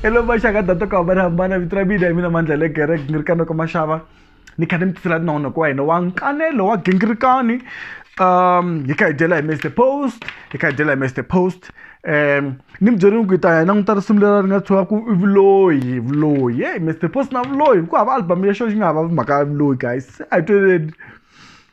hello maxaka data ku hambanahambana vito ra mina hi mina mandla le gerek ni ri ka noko maxava ni kha ni mi tisela tinahona ku wa hina wa nkanelo wa gingirikani um hi kha hi dyela hi mr post hi kha hi dyela hi mr post um ni mi byerini ku hi ta hi languta risimu leri ri nga tshuka ku i vuloyi vuloyi ye mr post na vuloyi ku hava album ya xo xi nga hava mhaka ya vuloyi guys a hi tweleni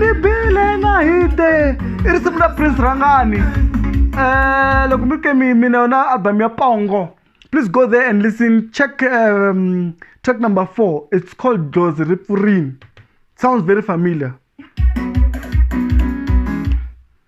ni bile na hite i risimu ra prince rhangani um loko mi ke mi mi na yona album ya pongo please go there and listen check um, track number four it's called dlozi ri pfurini sounds very familiar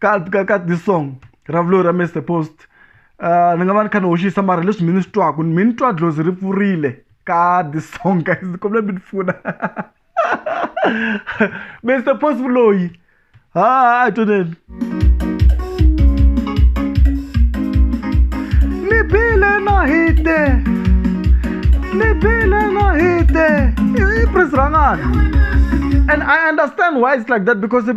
ka ka ka this song ra vulo ra mr post uh, ni nga va ni kha ni hoxisa mara leswi mi ni swi twaka mi ni twa dlozi ri pfurile ka this song guys ni kombela mi ni pfuna mr post vuloyi ha a toneni ni bile na hite ni bile na hite i prince rangana and i understand why it's like that because it,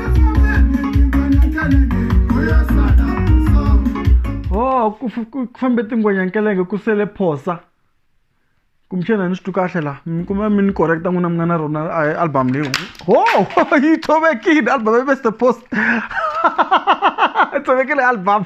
ku fambe tingwenyankelenge ku sele phosa kumbexana ni swi twi kahle laha mi kuma mi ni correcta n'wina mi nga na rona album leyi ho yi tshovekile album ya mr post tshovekile album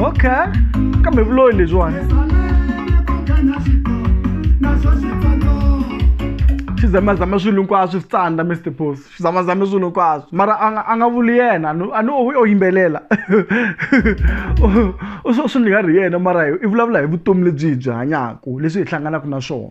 okay kambe vuloyi lebyiwani xizamazama swilo hinkwaswo swi tsandza mr boss zamazame swilo hinkwaswo mara a nga a nga vuli yena a ni u yimbelela u swo swi nga ri yena mara i vulavula hi vutomi lebyi hi byi hanyaka leswi hi hlanganaka na swona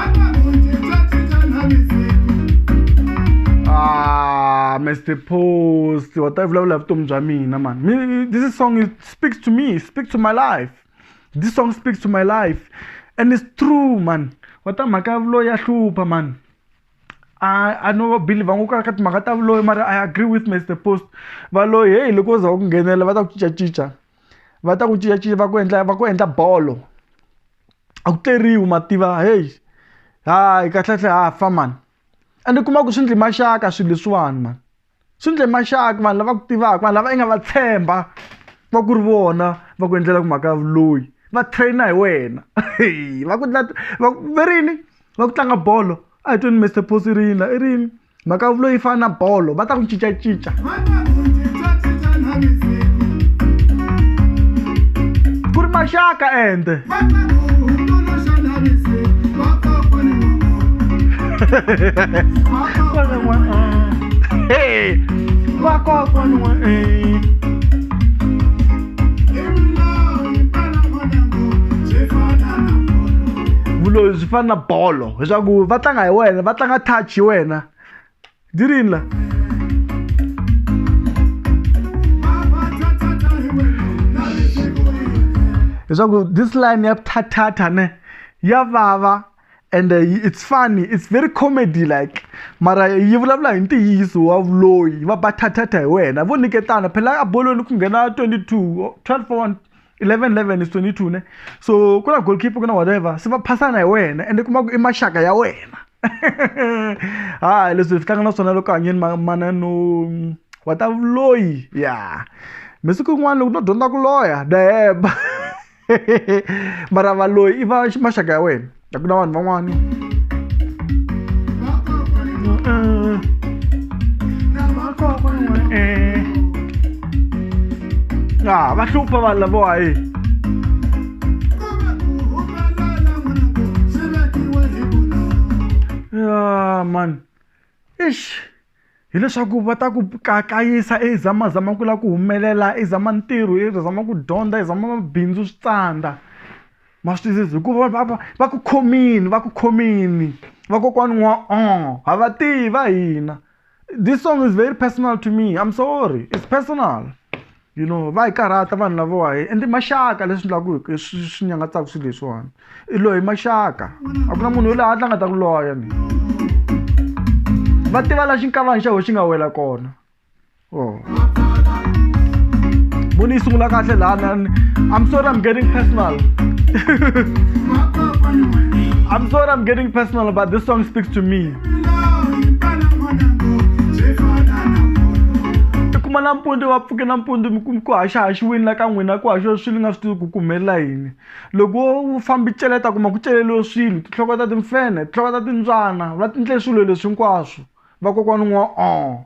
Ah, Mr. Post, what I've loved left Tom Jamina, man. This song speaks to me, speaks to my life. This song speaks to my life. And it's true, man. What I'm a ya hlupa, man. I, I know Billy vangu ka ka timhaka ta vuloyi mara I agree with Mr. Post. Valoyi hey loko za ku nghenela va ta ku cincacinca. va ta ku cincacinca va ku endla va ku endla bolo a ku tleriwi ma tiva heyi hayi kahlekahle ha fa mani ende u kuma ku swi endle maxaka swilo leswiwani mani swi endle maxaka vanhu lava ku tivaka vanhu lava i nga va tshemba va ku ri vona va ku endlela ku mhaka ya vuloyi va trainer hi wena va ku va ku va rini va ku tlanga bolo a hi tweni Mister Posi i ri yini la i ri yini. mhaka yo vuloyi yi fana na bolo va ta ku cincacinca ku ri maxaka ende vuloyi byi fana na bolo leswaku va tlanga hi wena va tlanga touch hi wena dirini la leswaku this line ya thathatha ne ya vava and uh, it's funny it's very comedy like mara yi vulavula hi ntiyiso wa vuloyi va bathathatha hi wena vo niketana phela a bolweni ku nghena 22 12 for 1 11 11 is 22 ne so ku na goalkeeper ku na whatever se va phasana hi wena ende kuma ku i maxaka ya wena ha leswi hi tlanga na swona loko hanyeni mana no wa ta vuloyi ya masiku yin'wana loko no dyondza ku loya dayeba mara valoyi i va maxaka ya wena a ku na vanhu van'wani ya ah, va hlupha vanhu lavowa hi ya man ish Hi leswaku va ta ku kayisa i zamazama ku lava ku humelela i zama ntirho i zama ku dyondza i zama mabindzu swi tsandza ma swi twisisa hikuva va va va ku khomile va ku khomile vakokwani n'wa ha va tivi va hina this song is very personal to me I'm sorry it's personal. you know va hi karhata vanhu lavowa hi ende maxaka leswi endlaku swi swi nyangatsaka swilo leswiwani i loyi maxaka a ku na munhu yoloyi hatla nga ta ku loya ni va tiva la xinkavani xa ho xi nga wela kona o oh. voni yi sungula kahle lana i'm sorry i'm getting personal i'm sorry i'm getting personal but this song speaks to me kuma nampundzu va pfuke nampundzu ku haxahaxiwini la ka n'wina ku haxiwa swilo nga swi tivi ku kumelela yini loko wo fambi celeta kuma ku celeliwe swilo tinhloko ta timfenhe tinhloko ta timbyana va tindle swilo leswi hinkwaswo vakokwana n'wa o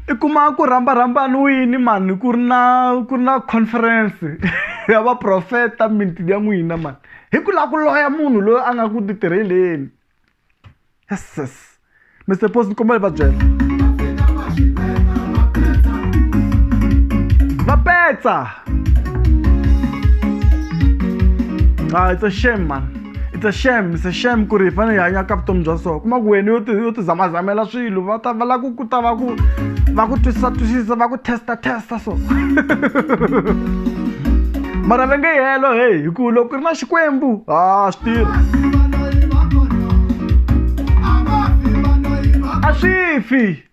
i kuma ku rhamba rhambaniwini mhani ku ri na ku ri na conference ya vaprofeta miti ya n'wina mhani hi ku lava ku loya munhu loyi a nga ku ti tirheleni yeses mister post ni kombela hi va byela va petsa Ah, it's a shame man it's a shame it's a shame ku ri hi fanele hi hanya ka vutomi bya so kuma ku wena yo ti yo ti zamazamela swilo va ta va la ku ku ta va ku va ku twisisa twisisa va ku testa testa so mara va nge helo heyi hi ku loko ku ri na xikwembu ha swi tirha a swi fi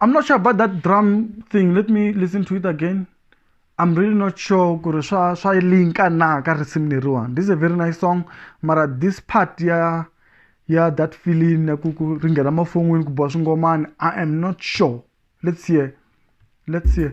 I'm not sure about that drum thing. Let me listen to it again. I'm really not sure ku ri swa swa linka na ka risimu leriwani. This is a very nice song mara this part ya ya that feeling ya ku ku ri nghena mafon'wini ku biwa swingomani I am not sure. Let's hear. Let's hear.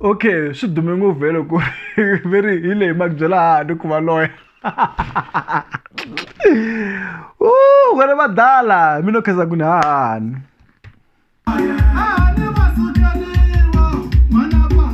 okay swi dume ngopfu vhele ku ve ri hi leyi maki byela hani ku va loya wena vadala mi no khensa ku ni hahani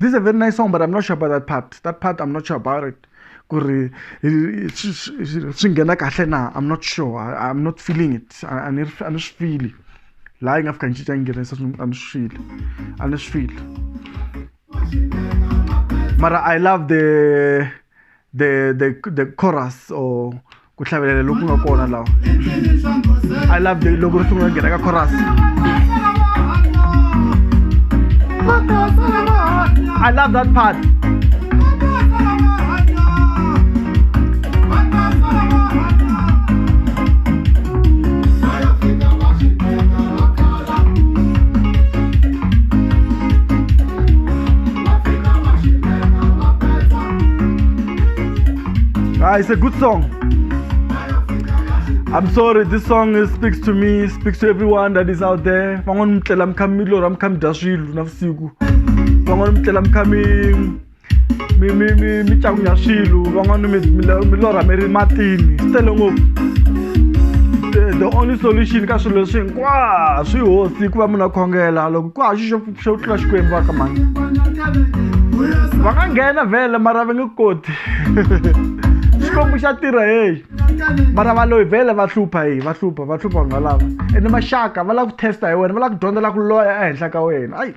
this is a very nice song but i'm not sure about that part that part i'm not sure about it ku ri swi nghena kahle na i'm not sure I, i'm not feeling it a ni a ni swi fili laha yi nga fika ni cinca ni nghenisa a ni swi fili a ni swi fili mara i love the the the the chorus or ku hlavelela loku nga kona lawa i love the loko ri sungula nghena ka chorus i love that part Ah, it's a good song. I'm sorry, this song is, speaks to me, speaks to everyone that is out there. Van'wana mi tlela mi kha mi lorha mi kha mi dya swilo navusiku. Van'wana mi tlela mi kha mi mi mi mi mi cakunya swilo. Van'wana mi mi lo- mi lorha mi ri matini. Swi tele ngopfu. The- The only solution ka swilo leswi hinkwaswo i hosi ku va munhu a khongela loko ku haxa xo xo tlula xikwembu va ka mani va nga nghena vhele mara va nge koti xikwembu xa tirha heyi mara va loyi vhele va hlupha heyi va hlupha va hlupha va nga lava ene maxaka va lava ku testa hi wena va lava ku dyondza la ku loya ehenhla ka wena ayi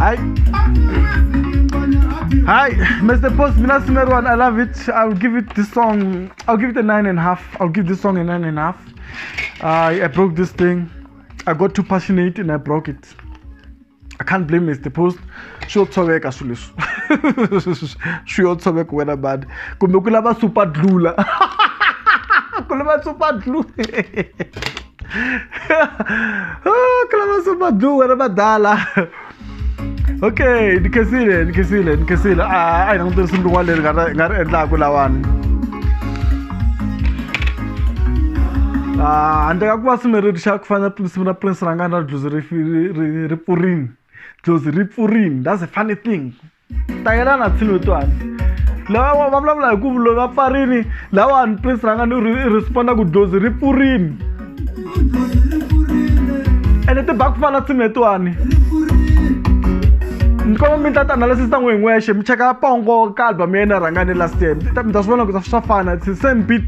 hayi Hi, Mr. Post, Mina Simerwan, I love it. I'll give it this song. I'll give it a nine and a half. I'll give this song a nine and a half. I, I broke this thing. I got too passionate and I broke it. I can't blame Mr. Post. Sure, tshoveka swilo leswi. Sure, tshoveka wena bad. Kumbe ku lava super dlula. Ku lava super dlula. Ku lava super dlula wena badala. okay ni khensile ni khensile ni khensile a a hi langutele simu rin'wana leri nga ri nga ri endlaku lawani handle ka ku va simu ri ri xa ku fana simu ra prince ra nga na dlozi ri ri ri pfurini dlozi ri pfurini that's a funny thing tayela na tshilo to hansi lava va vulavula hi ku vulo va pfarini lawani prince ranga ni ri responda ku dlozi ri pfurini ene ti ba ku fana tsimi letiwani ni koma mi ta tianalysis ta n'we hi n'wexe mi cheka pongo ka album ya yena rhangani last year mi ta swi vona ku swa fana same beat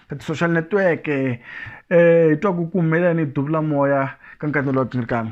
ka ti-social network-e um hi twa ku ku humelela ni duvula moya ka nkatelo wa tinrikana